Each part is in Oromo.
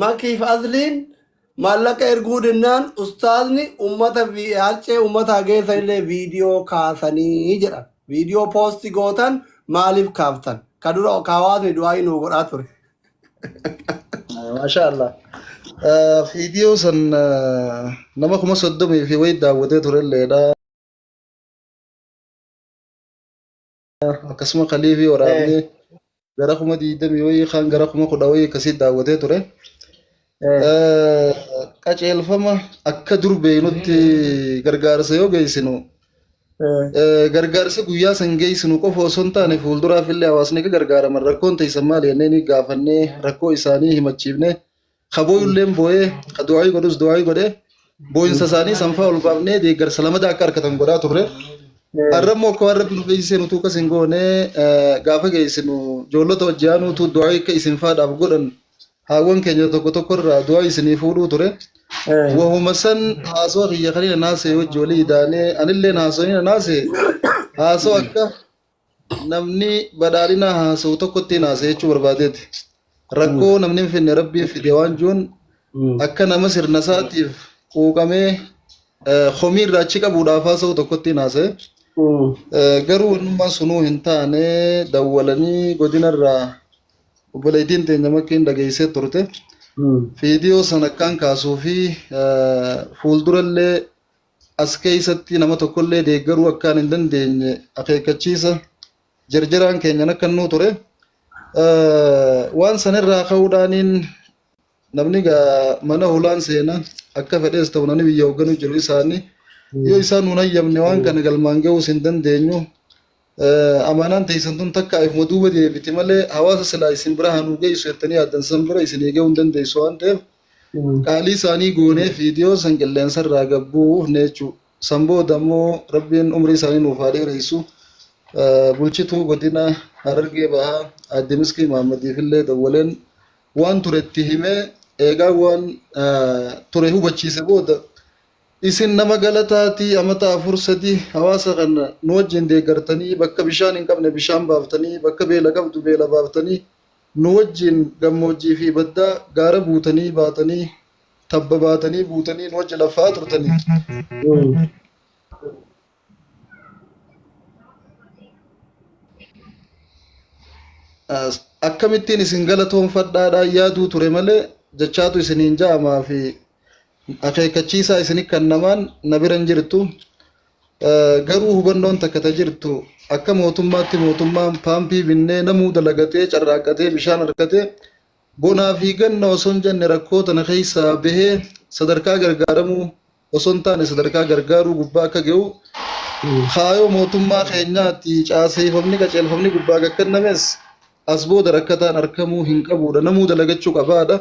Makiif Asliin maallaqa erguu dinnaan ustaazni ummata vi- haccee ummata hageessa illee viidiyoo kaasanii jedhan. Viidiyoo poosti gootan maaliif kaaftan? Ka dura ka hawaasni du'aayii nuu godhaa ture. Maashaa Allah. Eh, Viidiyoo san eh, nama kuma soddomii fi wayii daawwatee turelleedha. akkasuma kaliifii waraabnee Eh, gara kuma digdamii wayii kaan gara kuma kudha wayii akkasii daawwatee ture. eh, Eh, Qajeelfama akka dur beeknutti gargaarsa yoo geessinu eh, eh, gargaarsa guyyaa san geessinu qofa osoo hin taane fuulduraaf illee hawaasni akka gargaaraman rakkoon teessan maali jennee ni gaafannee rakkoo isaanii himachiifnee Ka booyulleen booyee, ka du'aayii godhus du'aayii godhe, booyinsa isaanii sanfaa ol baafnee deeggarsa lamada akka argatan godhaa turre. Har'a immoo akka waan rabbi nu fayyisee nutuu akkas hin goone eh, gaafa geessinu ijoollota wajji aanuutu du'aayii akka isin faadhaaf godhan haawwan keenya tokko tokko irraa du'aayii isinii fuudhuu ture. Wahuma san haasoo kiyya kanina naasee wajji walii idaanee anillee haasoo nina naasee haasoo akka namni badhaadhinaa haasa'u tokko ittiin haasa'e jechuu barbaadeeti. Rakkoo namni hin finne rabbiin fide waan jiruun akka nama sirna isaatiif quuqamee eh, komii irraa achi qabuudhaaf haasa'u tokko ittiin haasa'e. Eh, Garuu innummaan sunuu hin taane dawwalanii godinarraa obboleettiin teenya makkiin dhageessee turte. Viidiyoo sana akkaan kaasuu fi eh, fuuldurallee as keessatti nama tokkollee deeggaruu akkaan hin dandeenye akeekkachiisa jarjaraan keenyan akka nuu ture waan sanirraa ka'uudhaaniin namni mana hulaan seena akka fedhees ta'u namni biyya hoogganuu jiru isaanii yoo isaan nuun hayyamne waan kana galmaan ga'uus hin dandeenyu Amaanaan teessan tun takkaa ifuma duuba deebiti malee hawaasa silaa isin bira haa nuu geessu jettanii yaaddan san bira isin gahuu hin dandeessu waan ta'eef qaalii isaanii goonee viidiyoo san qilleensa irraa gabbuufne jechuudha. San booda immoo rabbiin umrii isaanii nuuf haa dheeressu. Bulchituu godina Harargee bahaa aadde Miskii Mahaammadiif illee dawwaleen waan ture itti himee eegaa waan ture hubachiise booda Isin nama galataati amata afur sadi hawaasa kana nu wajjin deeggartanii bakka bishaan hin qabne bishaan baaftanii bakka beela qabdu beela baaftanii nu wajjin gammoojjii fi baddaa gaara buutanii baatanii tabba baatanii buutanii nu wajjin laffa'aa turtanii. As- Akkamittiin isin galatoonfadhaadhaan yaaduu ture malee jechaatu isiniin ja'amaa fi akeekkachiisaa isini kannamaan na bira hin jirtu. Garuu hubannoon takka ta jirtu akka mootummaatti mootummaan paampii binnee namuu dalagatee carraaqqatee bishaan harkatee bonaa fi ganna osoo hin jenne rakkoo tana keessaa bahee sadarkaa gargaaramuu osoo hin taane sadarkaa gargaaruu gubbaa akka ga'u kaayoo mootummaa keenyaatti caaseeffamni qajeelfamni gubbaa gakkannames as booda rakkataan arkamuu hin qabuudha namuu dalagachuu qabaadha.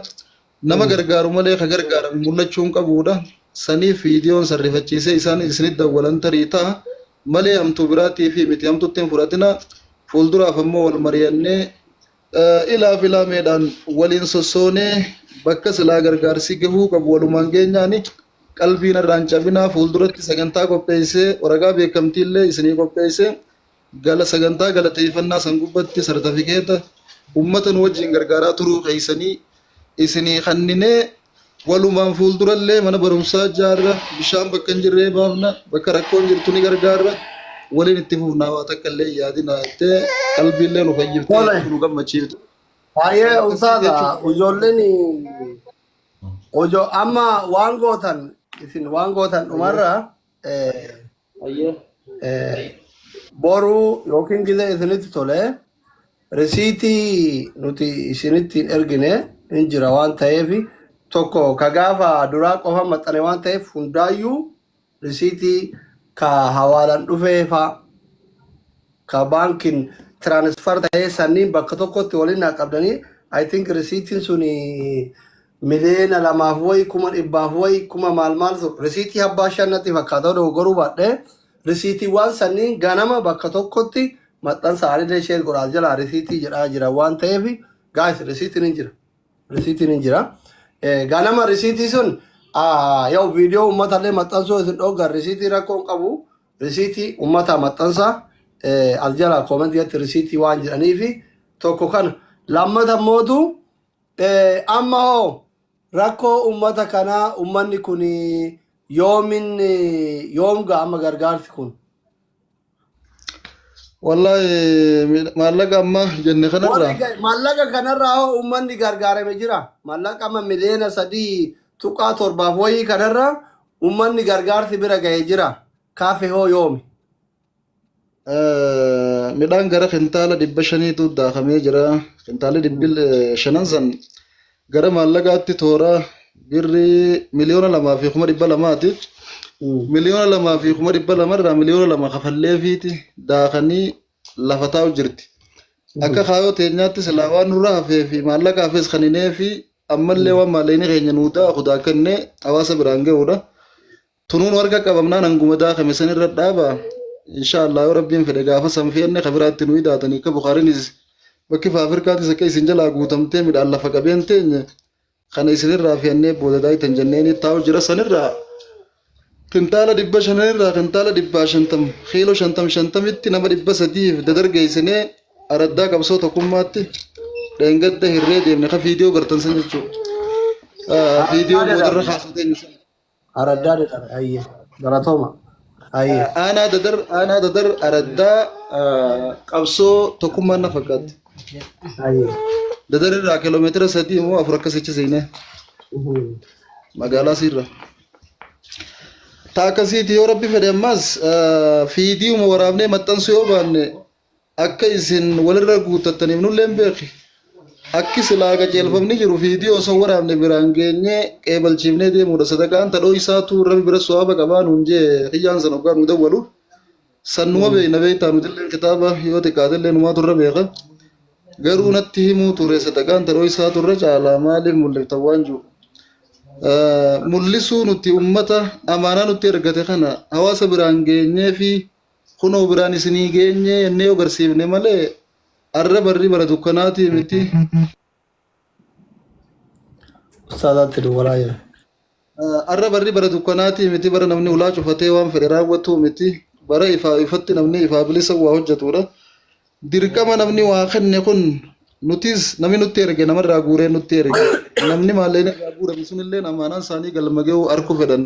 nama gargaaru malee ka gargaarame mul'achuu hin qabuudha. Saniif viidiyoon san rifachiisee isaan isinit dawwalan tarii ta'a malee hamtuu biraatii fi miti hamtutti hin fudhatina. Fuulduraaf ammoo wal mari'annee eh, ilaa fi laameedhaan waliin sossoonee bakka silaa gargaarsi gahuu qabu walumaan geenyaani qalbiin irraan cabinaa fuulduratti sagantaa qopheessee waraqaa beekamtiillee isinii qopheessee Gala sagantaa galateeffannaa san gubbatti sartifikeeta ummata nu wajjin gargaaraa turuu keessanii isinii kanninee walumaan fuuldurallee mana barumsaa jaarra bishaan bakka hin jirree baafna bakka rakkoon jirtu ni gargaarra waliin itti fufnaa waa takka illee hin yaadinaa jettee qalbiillee nu fayyiftee Tole. nu gammachiifte. Baay'ee ulfaata ijoolleen ojo amma waan gootan isin waan gootan dhumarra eh, Ayyee. Eh, boru yookiin gizee isinitti tole risiitii nuti isinitti hin ergine hin jira waan ta'eef tokko ka gaafa duraa qofa maxxane waan ta'eef hundaayyuu risiitii ka hawaalan dhufee faa ka baankiin tiraanisfar ta'ee sanniin bakka tokkotti waliin naa qabdanii I think risiitiin suni miliyeena lamaaf wayi kuma dhibbaaf wayi kuma maal maaltu risiitii abbaa shan natti fakkaata yoo dogoggoruu baadhee risiitiiwwan sanniin ganama bakka tokkotti maxxansa aanillee sheer godhaas jalaa risiitii jedhaa jira waan ta'eef gaayis risiitiin hin jira risiitiin hin jira Eh, ganama risiitii sun ah, yoo viidiyoo uummatallee maxxansuu isin dhoogan risiitii rakkoo hin qabu risiitii uummataa maxxansa eh, as jalaa koomentiitti risiitii waan jedhaniifi tokko kana lammata mootu Amma hoo rakkoo uummata kanaa uummanni kun yoomin yoom ga'a amma gargaarsi kun? Wallaahi miidha- maallaqa amma jenne Warri kanarraa ga- maallaqa kanarraa hoo uummanni gargaarame jira? Maallaqa amma miliyoona sadii tuqaa torbaaf wayii kanarraa uummanni gargaarsi bira ga'e jira? Kaafe hoo yoomi? Midhaan gara kintaala dhibba shaniitu daakamee jira. Kintaalli dhibbi shanan san gara maallaqaatti toora birrii miliyoona lamaa fi kuma dhibba lamaati. Miliyoona lamaa fi kuma dhibba lamarraa miliyoona lama kafalleefiiti daakanii lafa taa'u jirti. Akka kaayoo teenyaatti silaa waan nurra hafee fi maallaqa hafes kan hinee fi ammallee waan maallaqni keenya nuu daaku daakannee hawaasa biraan ga'uudha. Tunuun warqa qabamnaan hanguma daakame san irra dhaaba. Insha Allah yoo Rabbiin fedhe gaafa san feenne ka biraatti nu idaatanii akka Bukaariinis bakki faafirkaatis akka isin jalaa guutamtee midhaan lafa qabeen teenye kana isin irraa feennee booda daaytan jenneeni taa'u jira san irraa kintaala dhibba shanan irraa kintaala dhibbaa shantam kiiloo shantam shantamitti nama dhibba sadiif dadargeessinee araddaa qabsoo tokkummaatti dheengadda hirree deemne ka viidiyoo gartan san jechuudha. Viidiyoo boodarra kaasatee Araddaa dadhabe hayyee galatooma hayyee. Aanaa dadar aanaa dadar araddaa ah, qabsoo tokkummaan na fakkaatti. Hayyee. Dadar irraa kiiloomeetira sadii immoo afur akkas jecha seenee Mhm. magaalaa siirra. Taa akkasiiti yoo rabbi fedhe ammaas ah, fiidiiwuma waraabnee maxxansuu yoo baanne akka isin walirra guuttattaniif nulleen beeki akki silaa qajeelfamni jiru viidiyoo osoo waraabne biraan geenyee qeebalchiifnee deemuudha sadaqaan tadhoo isaatu rabi bira su'aaba qabaa nuun jee kiyyaan san hoggaa nu dawwalu san numa beekna beektaa nutilleen kitaaba yoo xiqqaatellee numaa turre beeka garuu natti himuu ture sadaqaan tadhoo isaa turre caalaa maaliif mul'iftan waan jiru mul'isuu nuti ummata amaanaa nutti ergate kana hawaasa biraan geenyee fi kunoo biraan isinii geenye jennee yoo garsiifne malee arra barri bara dukkanaatii miti. Ustaazaatti duwwalaa jira. Arra barri bara dukkanaatii miti bara namni ulaa cufatee waan fedhe raawwatuu miti bara ifaa ifatti namni ifaa bilisa waa hojjetudha. Dirqama namni waa kenne kun nutis namni nutti erge namarraa guuree nutti erge namni maalleen irraa guurame sunillee amaanaan isaanii galma ga'uu arkuu fedhan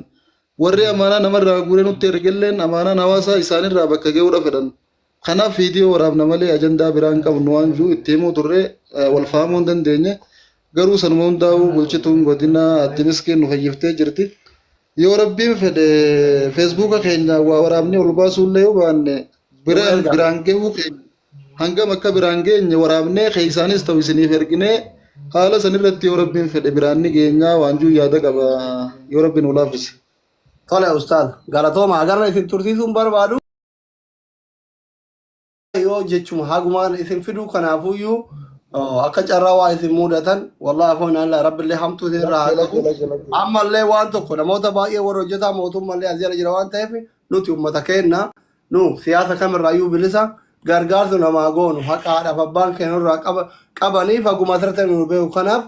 Warri amaanaa namarraa guuree nutti ergelleen amaanaan hawaasaa isaanirraa bakka ga'uudha fedhan. Kanaaf viidiyoo waraabna malee ajandaa biraa hin qabnu waan jiru itti himuu turre wal fahamuu hin dandeenye. Garuu sanuma hundaa'uu bulchituun godinaa Aadde Miskiin nu fayyiftee jirti. Yoo rabbiin fedhe feesbuuka keenya waa waraabnee ol baasuullee yoo baanne bira biraan ga'uu keenya. hangam akka biraan geenye waraabnee keessaanis ta'u isiniif erginee haala san irratti yoo rabbiin fedhe biraan ni geenyaa waan juu yaada qaba yoo rabbiin nu laaffise. Tole ustaaz galatooma agarra isin tursiisuun barbaadu yoo jechuma hagumaan isin fiduu kanaafuyyuu oh, akka carraa waa isin muudatan wallah afoon alla rabbillee hamtuu isin irraa haa qabu ammallee waan tokko namoota baay'ee warra hojjetaa mootummallee as jala jira waan ta'eef nuti ummata keenna Nu siyaasa kam irraa iyyuu bilisa, gargaarsa nu namaa goonu haqa haadhaaf abbaan keenya nu irraa qaba, qabaniif haguma asirra ta'e nu beeku. Kanaaf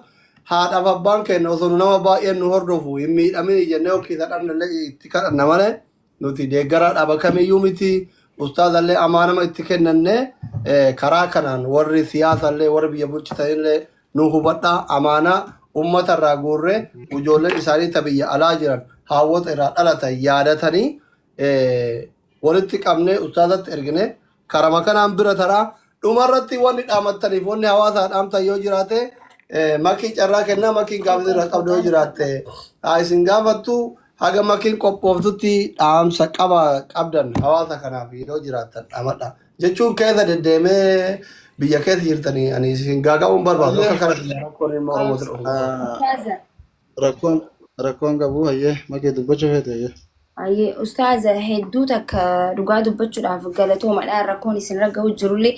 haadhaaf abbaan keenya osoo nu nama baay'een nu hordofu hin miidhamini jennee yoo kiisa dhabne illee itti kadhanna malee nuti deeggaraa dhaaba kamiyyuu miti. Ustaaza illee amaa nama itti kennanne eh, karaa kanaan warri siyaasa illee warri biyya bulchitan illee nu hubadhaa amaanaa ummata irraa guurree ijoolleen isaanii ta biyya alaa jiran haawwota irraa dhalatan yaadatanii walitti qabnee ustaazatti ergine karama kanaan bira taraa dhumarratti wanni dhaamattaniif wanni hawaasaa dhaamtan yoo jiraate makii carraa kennaa makiin gaafii irra qabdu yoo jiraatte haa isin gaafattu haga makiin qophooftutti dhaamsa qaba qabdan hawaasa kanaaf yoo jiraattan dhaamadha jechuun keessa deddeemee biyya keessa jirtanii ani isin gaaga'uun barbaadu akka kana rakkoon ilma oromoo Rakkoon rakkoon qabu hayyee makee dubbachuu feete hayyee. Ayyee ustaaza hedduu takka dhugaa dubbachuudhaaf galatoomadha rakkoon isin ragga'u jirullee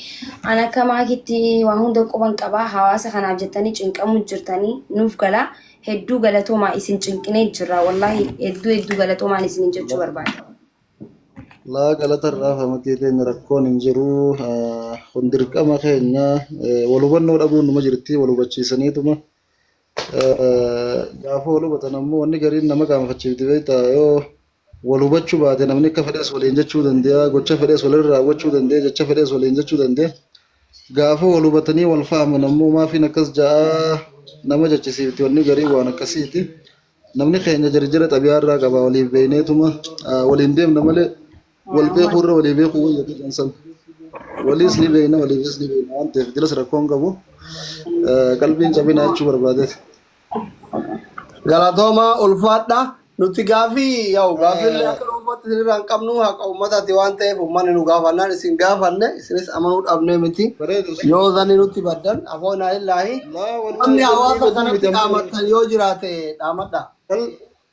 an akka maakitti waa hunda quban qabaa hawaasa kanaaf jettanii cinqamuu jirtanii nuuf galaa hedduu galatoomaa isin cinqinee jirra wallaahi hedduu hedduu galatoomaan isin jechuu La- barbaada. Laa galata irraa famakee teenya rakkoon hin jiru. Ah, Kun dirqama keenya eh, wal hubannoo dhabuun numa jirti wal hubachiisaniituma. Gaafa wal hubatan ammoo wanni gariin nama qaanfachiifti beektaa yoo wal hubachuu baate namni akka fedhes waliin jechuu danda'a gocha fedhes walirra raawwachuu danda'a jecha fedhes waliin jechuu danda'a. Gaafa wal hubatanii wal faaman ammoo maafiin akkas ja'a nama jechisiifti wanni gariin waan akkasiiti. Namni keenya jarjara xabiyaa irraa qaba waliif beeyneetuma waliin deemna malee wal beekuu irra walii beekuu wayya jedhan san waliis ni beekna waliifis ni beekna waan ta'eef jilas rakkoon qabu Eh, qalbiin cabina jechuu barbaadeeti. Galatoomaa ulfaadha. Nuti gaafii yaa'u gaafii illee akka dhuunfaatti isinirraa hin qabnu haqa uummataati waan ta'eef uummanni nu gaafannaan isin gaafanne isinis amanuu dhabnee miti. Bareedu. Yoo zanni nutti baddan afoonaa illaahi. Laa wallahi Namni hawaasa baduu miti kanatti ammoo. dhaamattan yoo jiraate dhaamadha. Bal-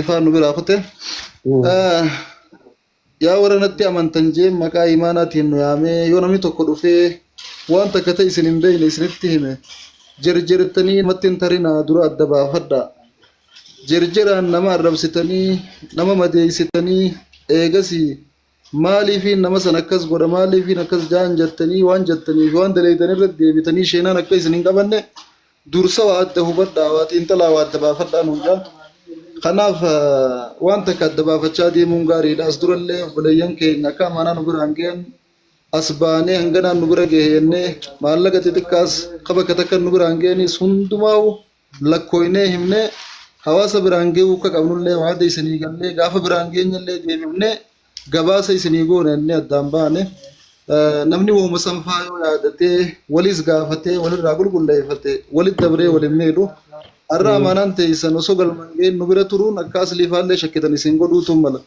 Ifaa nu biraa kute. Yaa warra natti amantan jee maqaa imaanaatiin nu yaamee yoo namni tokko dhufee waan takka ta'e isin hin beekne isinitti hime jerjerettanii namatti hin tarinaa dura adda baafadhaa. Jerjeraan nama arrabsitanii nama madeessitanii eegasii Maaliifiin nama san akkas godha maaliifiin akkas jaan jattanii waan jattanii fi waan daleeydan irratti deebitanii sheenaan akka isin hin qabanne dursa waa adda hubadhaa waa xiinxalaa waa adda baafadhaa nuun jaan. Kanaaf eh, waan takka adda baafachaa deemuun gaariidha. As durallee obboleeyyan keenya akka amaanaa nu biraan ga'an as baanee hanganaan nu bira ga'e jennee maallaqa xixiqqaas ka bakka takka nu biraan ga'anis hundumaa'u lakkooynee himnee hawaasa biraan ga'uu akka qabnullee waada isinii gallee gaafa biraan geenyallee deebifnee gabaasa isinii goona inni addaan baane namni wooma sanfaa yoo yaadatee waliis gaafatee walirraa qulqulleeffate walit dabree waliin miidhu har'a amaanaan teessan osoo galmaan ga'een nu bira turuun akka asliifaallee shakkitan isin godhuutu mala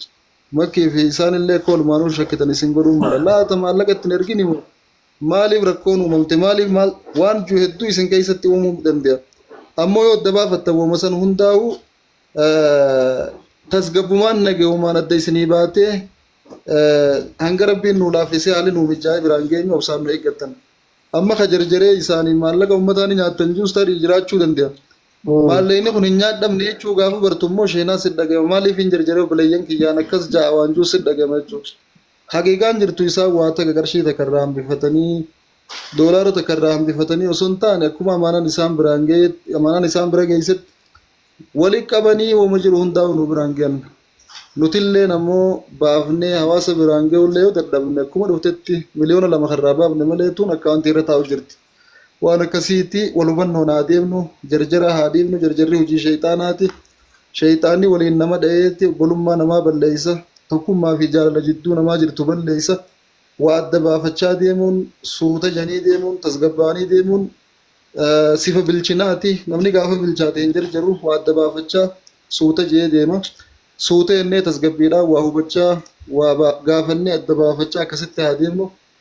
makkii fi isaanillee akka olmaanuu shakkitan isin godhuu mala laata maallaqa ittiin ergini moo Maaliif rakkoon uumamte? Maaliif maal? Waan ju hedduu isin keessatti uumuu danda'a. Ammoo yoo adda baafattan wama san hundaa'uu tasgabbumaan nagayumaan adda isinii baatee hanga rabbiin nuu laaffisee haalli nuu mijaa'ee biraan geenyu obsaan nu eeggattan. Amma ka jarjaree isaanii maallaqa uummataa ni nyaattan juus tarii jiraachuu danda'a. Maallaqni kun hin nyaadhamne jechuu gaafa bartu immoo sheenaa si dhagayama. Maaliif hin jarjaree obboleeyyan kiyyaan akkas ja'a waan juus si dhagayama jechuudha. Haqiiqaan jirtu isaan waa takka qarshii takka irraa hambifatanii doolaara takka irraa hambifatanii osoo hin taane akkuma amaanaan isaan biraan gaheetti amaanaan isaan bira geessetti wali qabanii wama jiru hundaa'u nu biraan gahan. Nutilleen ammoo baafnee hawaasa biraan gahullee yoo dadhabne akkuma dhuftetti miliyoona lama kan irraa baafne malee tun akkaawuntii irra taa'u jirti. Waan akkasiitti wal hubannoon haa deemnu, jarjara haa dhiifnu, jarjarri hojii sheyxaanaati. Sheyxaanni waliin nama dhayeeti obbolummaa namaa balleessa, tokkummaa fi jaalala jidduu namaa jirtu balleessa. Waa adda baafachaa deemuun, suuta janii deemuun, tasgabbaa'anii deemuun sifa bilchinaati. Namni gaafa bilchaate hin jarjaru, waa adda baafachaa suuta je'ee deema. Suuta jennee tasgabbiidhaan waa hubachaa, waa gaafannee adda baafachaa akkasitti haa deemnu.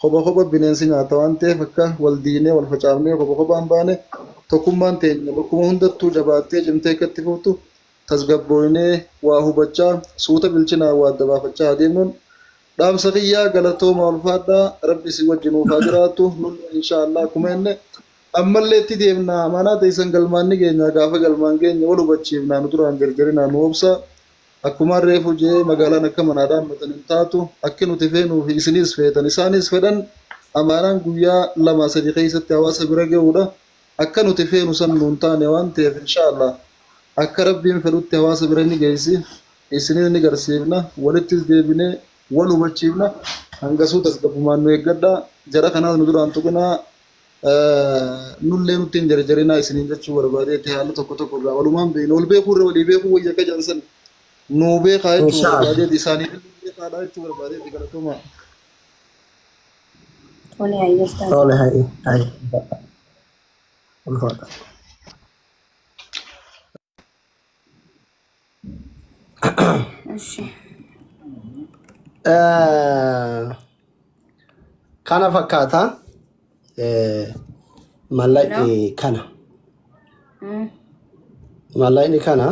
Kopha kopha bineensi nyaata waan ta'eef akka wal diinee wal facaafnee kopha kophaan baane tokkummaan teenya bakkuma hundattuu jabaattee cimtee akka itti fuftu tasgabbooynee waa hubachaa suuta bilchinaan waa adda baafachaa haa deemnuun dhaamsa kiyyaa galatoomaa ulfaadhaa rabbi isin wajji nuuf haa jiraatu nullee inshaa Allah akkuma jenne ammallee itti deemna amaanaa teessan galmaan ni geenya gaafa galmaan geenya wal hubachiifna nu duraan jarjarinaa nu obsaa Akkumaan reefu je'e magaalaan akka manaa dhaammatan hin taatu. Akki nuti feenuu fi isiniis feetan, isaanis fedhan amaanaan guyyaa lamaa sadii keessatti hawaasa bira ga'uudha. Akka nuti feenu san nuun taane waan ta'eef inshaa Allaah akka Rabbiin fedhutti hawaasa bira ni geessi, isiniis ni garsiifna, walittis deebinee wal hubachiifna. Hangasuu tasgabbumaan nu eeggadhaa. Jara kanaas nu duraa hin tuqinaa. Nullee nutti hin jarjarinaa isiniin jechuu barbaadeetti haala tokko tokko irraa walumaan beekna. Wal beekuu irra walii beekuu wayya akka jedhan san nuu beekaa jechuu Insha Allah. barbaadeetti isaanii beekaadha jechuu barbaadeetti galatoomaa. Tole hayyee ustaaza. Tole hayi hayi. Ulfaadha. እሺ kana fakkaata mallaqni kana Mm. mallaqni kana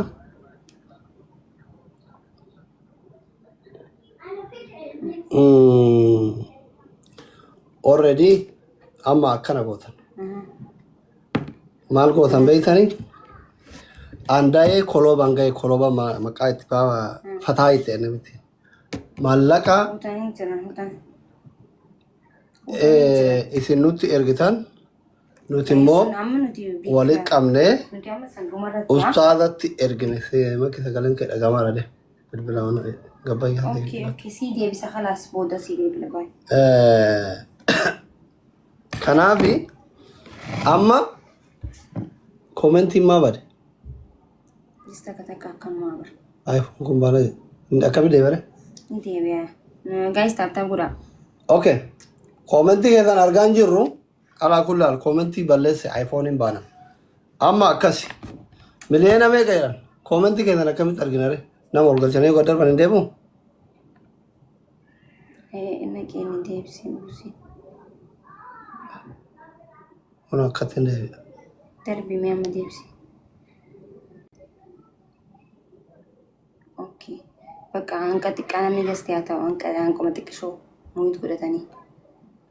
mm, already amma akkana gootan Mhm. maal gootan beektanii aandaa'ee kolooban ga'e kolooba ma- maqaa itti baaba fataa itti enne miti maallaqa Hutan hin jiran hutan. eh, isin nutti ergitan nuti immoo Sun amma nuti beekna. walitti qabnee Nuti amma san dhumarratti waan- ustaazatti ergine si- makki sagaleen kee dhagamaa dha de bilbila mana gabbayyaa Okey, okey. Sii deebisa khalaas booda sii deebila baay. Eh, Kanaafi amma koomentiin maa bade? Jis takka takka akkam maa bara. Ay, kun baala akkami deebare? Ni deebi'a. Gaayis taaptaa godhaa. Okay. Koomentii keessan argaa hin jirru alaa kullaal koomentii balleesse ayfooniin baana. Amma akkasi. Miliyoona meeqa jedhan? Koomentii keessan akkamitti arginare? Nama ol galchanii yoo gad darban hin deemu? Inni keenya deebisee buusee. Kun akkatti deebi'a. Darbii mee amma deebisee. Okay. Bakka hanqa xiqqaa namni gastee haa ta'u hanqa hanquma xiqqishoo muuyit godhatanii.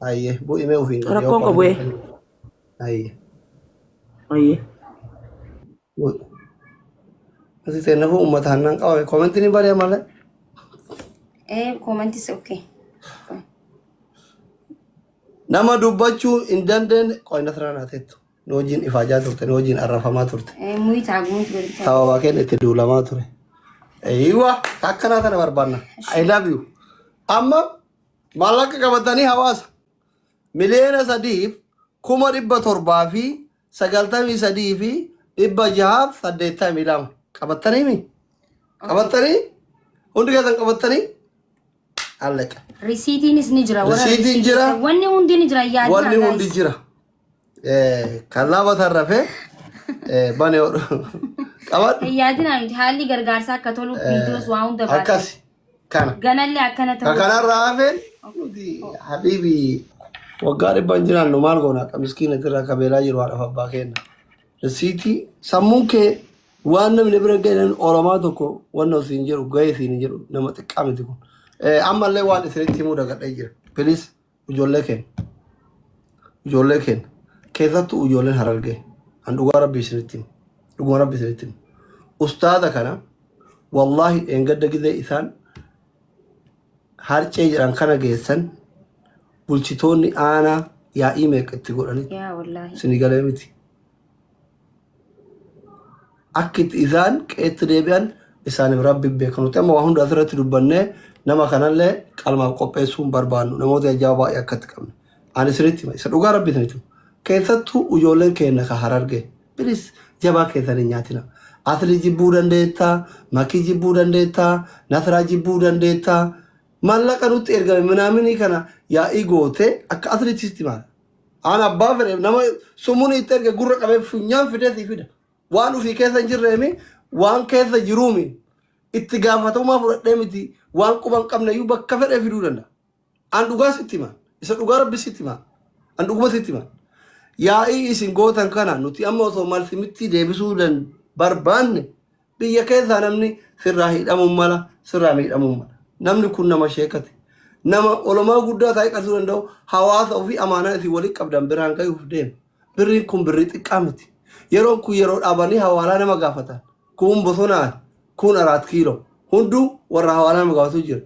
Ayyee bu'i mee ofiin. Rakkoon qabu ee. Ayyee. Ayyee. Bu'i. Asii seennafu uummata hannaan qaba koomentiin hin bari'a malee. Ee koomentis okkee. Nama dubbachuu hin dandeenye qoy nasraa naa teettu. Nu wajjin ifaajaa turte nu wajjin arrafamaa turte. Ee muyi taaguutu walitti. Sababa keenya itti duulamaa ture. Eeyyiwa akkanaa kana barbaanna. I love you. Amma Maallaqa qabatanii hawaasa miliyoona sadiif kuma dhibba torbaa fi sagaltamii sadii fi dhibba jahaaf saddeettamii lama qabattanii mi? Qabattanii? Hundi keessan qabattanii? Alleqa. Risiitiinis ni jira. warra Risiitiin jira. risiitiinis- Wanni hundi ni jira. Yaa Wanni jira, hundi guys. jira. Kallaa botaan rafee banee hodhu. Qabadhu. Yaadina miti haalli gargaarsaa akka tolu viidiyoos waa hunda baasa. Akkas kana. Ganallee akkana Ka ta'uu. kanarraa hafeen nuti habiibi waggaa dhibba hin jiraannu maal goona akka miskiina irraa kabeelaa jiru haadhaaf abbaa kenna. Risiitii sammuun kee waan namni bira gahan oromaa tokko wanna siin jedhu gahee siin hin jedhu nama xiqqaa miti kun. Eh, Ammallee waan isinitti himuu dagadhee jira. Please ijoollee keenya ijoollee keenya keessattuu ijoolleen harargee an dhugaa rabbii isinitti himu dhuguma rabbii isinitti himu ustaaza kana wallaahi dheengadda gizee isaan harcee jedhan kana geessan bulchitoonni aanaa yaa'ii meeqa itti godhanii yaa wallaahi isinii galee miti Akka itti isaan qeetti deebi'an isaaniif rabbi beeka. Nuti amma waa hunda asirratti dubbannee nama kanallee qalmaaf qopheessuu hin barbaannu. Namoota jajjabaa baay'ee akkatti qabna. Ani isinitti hima. Isa dhugaa rabbi isinitti hima. Keessattuu ijoolleen keenya ka hararge. Bilis jabaa keessan hin nyaatina. Asli jibbuu dandeetta, makii jibbuu dandeetta, nasraa jibbuu dandeetta. Mallaqa nutti ergame minaaminii kana yaa'ii goote akka aslitti sitti maala. Aan abbaa fedhe nama sumuun itti erge gurra qabee funyaan fidee sii fida. Waan ofii keessa hin jirreemi waan keessa jiruumi itti gaafatamummaa fudhadhee miti waan quba hin qabne iyyuu bakka fedhee fiduu danda'a. Aan dhugaa sitti hima. Isa dhugaa rabbi sitti hima. Aan dhuguma sitti hima. Yaa'ii isin gootan kana nuti amma osoo malsimittii deebisuu dan barbaanne Biyya keessaa namni sirraa hidhamuun mala, sirraa miidhamuun mala. Namni kun nama sheekati. Nama olomaa guddaa taa'ee qarsuu danda'u hawaasa ofii amaanaa isin waliin qabdan biraan gayuuf deema. Birriin kun birrii xiqqaa miti. Yeroon kun yeroo dhaabanii hawaalaa nama gaafatan. Kuun bosonaan, kuun araat kiiloo. Hunduu warra hawaalaa nama gaafatu jira.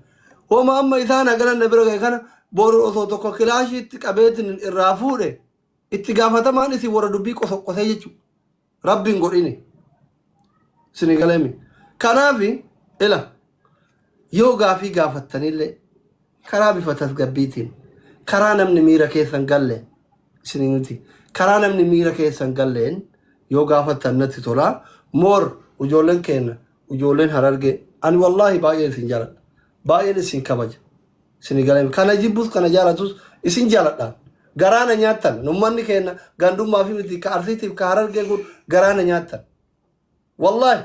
Homa amma isaan haganan na bira gahe kana boru osoo tokko kilaashii itti qabeetiin irraa fuudhe itti gaafatamaan isin warra dubbii qosoqqosee jechuudha. rabbi hin godhini sini galemi kanaafi ila yoo gaafii gaafattanillee karaa bifa tasgabbiitiin karaa namni miira keessan galle isin miti karaa namni miira keessan galleen yoo gaafattan natti tola moor ujoolleen keenna ujoolleen harargee ani wallaahi baay'een isin jaladha baay'een isin kabaja Sini galee kana jibbus kana jaalatus isin jaaladhaan. Garaa na nyaattan. Ummanni keenya gandummaa fi miti ka arsiitiif ka harargee kun garaa na nyaattan. Wallaahi